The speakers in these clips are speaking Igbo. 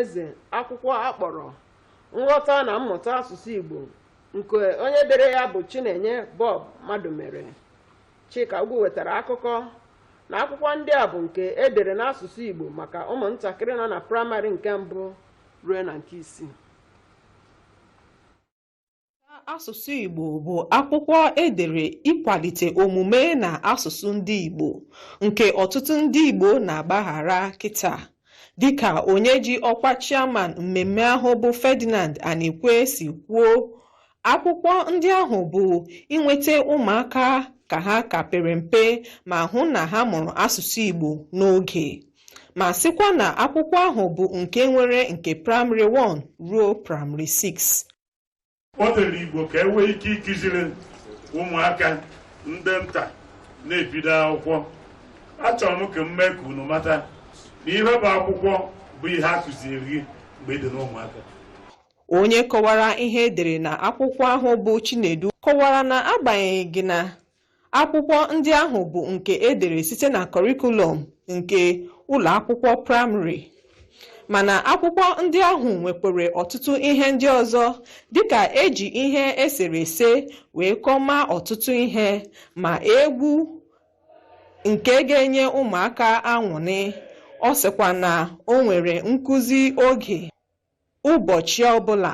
eze akwụkwọ a kpọrọ nghọta na mmụta asụsụ igbo nke onye dere ya bụ chinenye bob madumere chika ugwu wetara akụkọ na akwụkwọ ndị a bụ nke e dere n'asụsụ igbo maka ụmụntakịrị nọ na praịmarị nke mbụ ruo na nke isii Asụsụ Igbo bụ akwụkwọ edere ịkwalite omume na asụsụ ndị Igbo nke ọtụtụ ndị Igbo na-agbaghara kịtaa dịka onye ji ọkwa chairman mmemme ahụ bụ Ferdinand Anikwe si kwuo akwụkwọ ndị ahụ bụ inweta ụmụaka ka ha ka pere mpe ma hụ na ha mụrụ asụsụ Igbo n'oge ma sịkwa na akwụkwọ ahụ bụ nke nwere nke praịmarị 1 ruo praịmarị 6 o dere igbo ka e nwee ike ịkụziri ụmụaka ndị nta na-ebido akwụkwọ achọrọ m ka m mee ka unu mata na ihe bụ akwụkwọ bụ ihe a kụziere gị mgbe ị dị n'ụmụaka onye kọwara ihe edere na akwụkwọ ahụ bụ Chinedu kọwara na agbanyeghị na Akwụkwọ ndị ahụ bụ nke e dere site na kọrịkulọm nke ụlọ akwụkwọ praịmarị. Mana akwụkwọ ndị ahụ nwekwara ọtụtụ ihe ndị ọzọ dịka e ji ihe eserese wee kọwaa ọtụtụ ihe ma egwu nke ga-enye ụmụaka aṅụrị. Ọ sịkwa na o nwere nkụzi oge ụbọchị ọbụla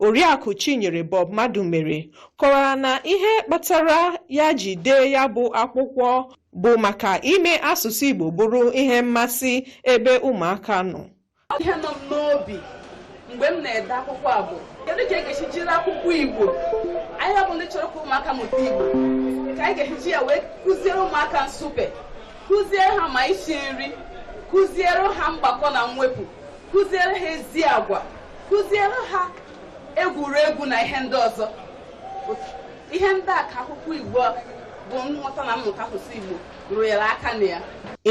Oriakụ Chinyere Bob Madumere kọwara na ihe kpatara ya ji dee ya bụ akwụkwọ bụ maka ime asụsụ Igbo bụrụ ihe mmasị ebe ụmụaka nọ. ihe nọ m n'obi mgbe m na-ede akwụkwọ a bụ kedu ka e ga-esi jiri akwụkwọ igbo anyị ọ bụ ndị chọrọ ka ụmụaka mụta igbo ka anyị ga-eji ya wee kụziere ụmụaka nsụpe kụziere ha ma isi nri kụziere ha mgbakọ na mwepụ kụziere ha ezi agwa kụziere ha egwuregwu na ihe ndị ọzọ ihe ndị a ka akwụkwọ igbo bụ nghọta na mmụta asụsụ igbo rụnyere aka na ya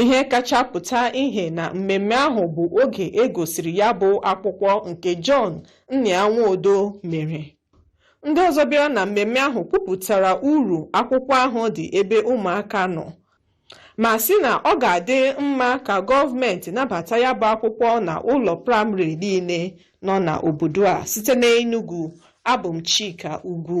ihe kacha pụta ihe na mmemme ahụ bụ oge e gosiri ya bụ akwụkwọ nke John Nnia Nwodo mere ndị ọzọ bịara na mmemme ahụ kwupụtara uru akwụkwọ ahụ dị ebe ụmụaka nọ ma sị na ọ ga-adị mma ka gọọmenti nabata ya bụ akwụkwọ na ụlọ praịmarị niile nọ na obodo a site n'Enugu abụ m Chika Ugwu